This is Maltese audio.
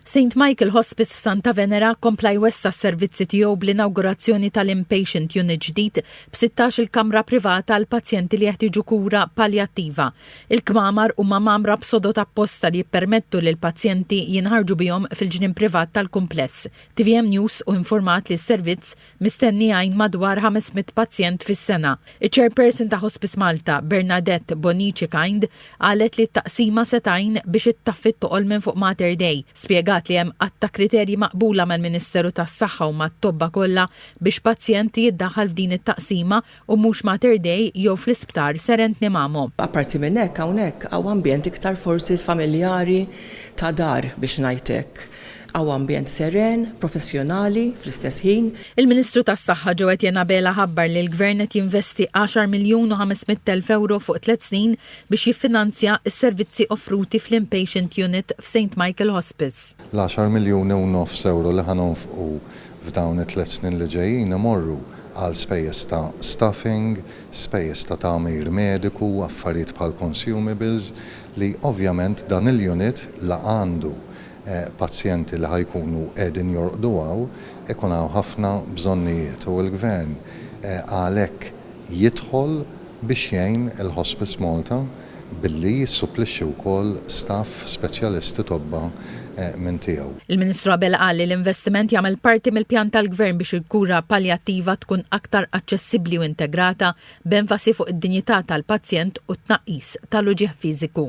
St Michael Hospice f'Santa Venera kompla jwessa' s-servizzi tiegħu bl-inawgurazzjoni tal-inpatient unit ġdid b'16 il kamra privata għal pazjenti li jeħtieġu kura paljattiva. Il-kmamar huma mgħammra b'sodod apposta li jippermettu li l-pazjenti jinħarġu bihom fil-ġnien privat tal-kumpless. Tvm News u informat li s-servizz Mistenni jgħin madwar 500 pazjent fis-sena. Iċ-Chairperson ta' Hospice Malta, Bernadette Bonnici Kind, qalet li t-taqsima se tgħin biex ittaffi t-toqol minn fuq Mater Dei. Spjegat li hemm għadd ta' kriterji maqbula mal-Ministeru tas-Saħħa u mat-tobba kollha biex pazjent jiddaħħal f'din it-taqsima u mhux Mater Dei jew fl-isptar Serentni Mammo. Apparti minn hekk hawnhekk hawn ambjent iktar forsi familjari ta' dar biex ngħid hekk. Hawn ambjent seren, professjonali fl-istess ħin. Il-Ministru tas-Saħħa Joe Etienne Abela ħabbar li l-Gvern qed jinvesti għaxar miljun u ħames mitt elf ewro fuq tliet snin biex jiffinanzja s-servizzi offruti fl-In-Patient Unit f'Saint Michael Hospice. L-għaxar miljuni u nofs ewro li ħa nonfqu f'dawn it-tliet snin li ġejjin imorru għal spejjeż ta' staffing, spejjeż ta' tagħmir mediku, affarijiet bħal consumables li ovvjament dan il-unit la għandu pazjenti li ħa jkunu qegħdin jorqdu hawn, ikun hawn ħafna bżonnijiet u l-Gvern għalhekk jidħol biex jgħin il-Hospice Malta. billi jissupplixxi wkoll staff speċjalisti tobba minn tiegħu. Il-Ministru Abela qal li l-investiment jagħmel parti mill-pjan tal-Gvern biex il-kura paljattiva tkun aktar aċċessibbli u integrata, b'enfasi fuq id-dinjità tal-pazjent u t-tnaqqis tal-uġigħ fiżiku.